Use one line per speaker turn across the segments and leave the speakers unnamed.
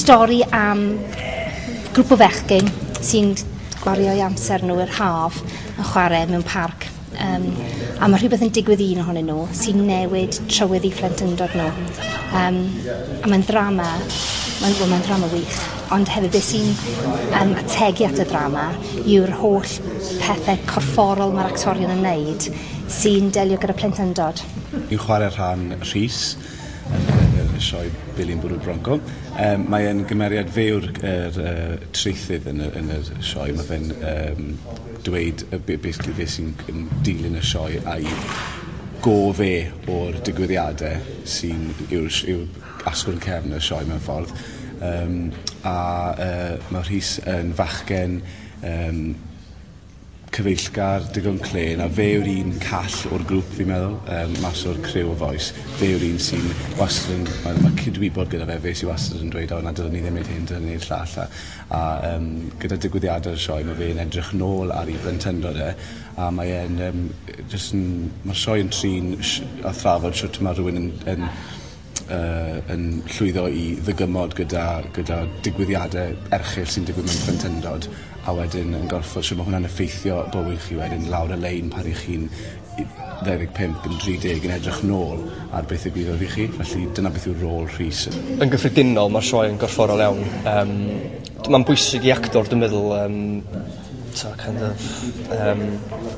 stori am grŵp o fechgyn sy'n gwario'i amser nhw i'r haf yn chwarae mewn parc. Um, a mae rhywbeth yn digwydd un ohonyn nhw sy'n newid trywydd i phlentyndod nhw. Um, a mae'n ddrama, mae'n well, mae ddrama wych, ond hefyd beth sy'n um, ategu at y ddrama yw'r holl pethau corfforol mae'r actorion yn wneud sy'n delio gyda plentyndod. Yn chwarae
rhan Rhys yn y sioe Billy'n bwrw bronco. Um, mae e'n gymeriad fewr yr uh, traethydd yn y, yn y sioe. Mae fe'n um, dweud uh, be, be, be sy'n dilyn y sioe a'i go fe o'r digwyddiadau sy'n yw'r yw asgwrn cefn y sioe mewn ffordd. Um, a uh, mae Rhys yn fachgen um, cyfeillgar digon clên a fe yw'r un call o'r grŵp fi'n meddwl yym mas o'r criw o Voice fe yw'r un sy'n wastad yn ma' ma' cydwybod gyda fe fe sy wastad yn dweud o na dylwn ni ddim neud hyn dylwn ni neud llall a a yym gyda digwyddiade'r sioe ma' fe'n edrych nôl ar 'i blentyndod e a mae e'n yym yy jyst yn ma'r sioe yn trin sh- a thrafod shwt ma' rhywun yn yn yy yn llwyddo i ddygymod gyda gyda digwyddiade erchyll sy'n digwydd mewn plentyndod a wedyn yn gorffo shwd ma' hwnna'n effeithio bywyd chi wedyn lawr y lein pan 'ych chi'n u- ddau ddeg pump yn dri deg yn edrych nôl ar beth ddigwyddodd i chi felly dyna beth yw rôl Rhys. Yn gyffredinol
ma'r sioe yn gorfforol iawn yym d- ma'n bwysig i actor dwi meddwl yym t'o' kind of yym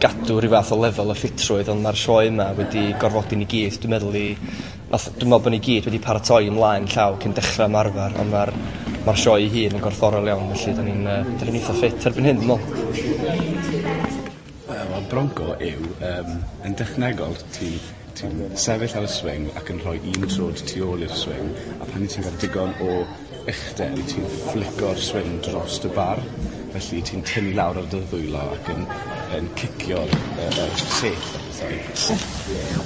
gadw ryw fath o lefel o ffitrwydd on' ma'r sioe 'ma wedi gorfodi ni gyd dwi meddwl i Nath, dwi'n me'wl bo' ni gyd wedi paratoi ymlaen llaw cyn dechra ymarfer on' ma'r ma'r sioe 'i hun yn gorfforol iawn felly 'dan ni'n yy 'dan ni'n itha ffit erbyn hyn dwi me'wl.
Wel ma' bronco yw yym yn dechnegol ti ti'n sefyll ar y swing ac yn rhoi un trod tu ôl i'r swing a pan ti'n ga'l digon o uchder i ti'n fflico'r swing dros dy bar felly ti'n tynnu lawr ar dy ddwylo ac yn yn cicio'r yy yy set a pethau. So,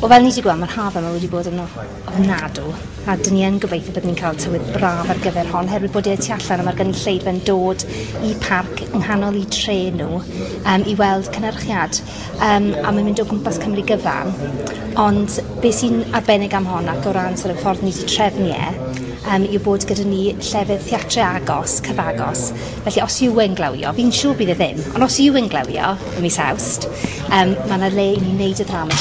wel fel ni 'di gweld ma'r haf yma wedi bod yn of- ofnadw a 'dyn ni yn gobeithio bod ni'n cael tywydd braf ar gyfer hon oherwydd bod e y tu allan a ma'r gynulleidfa'n dod i parc yng nghanol 'u tre nw yym i weld cynyrchiad. um, a mae'n mynd o gwmpas Cymru gyfan. Ond be sy'n arbennig am hon ac o ran sort of, ffordd ni wedi trefnu e, um, yw bod gyda ni llefydd theatre agos, cyfagos. Felly os yw yn glawio, fi'n siŵr bydd e ddim, ond os yw yn glawio, y mis awst, um, mae yna le i ni wneud y drama.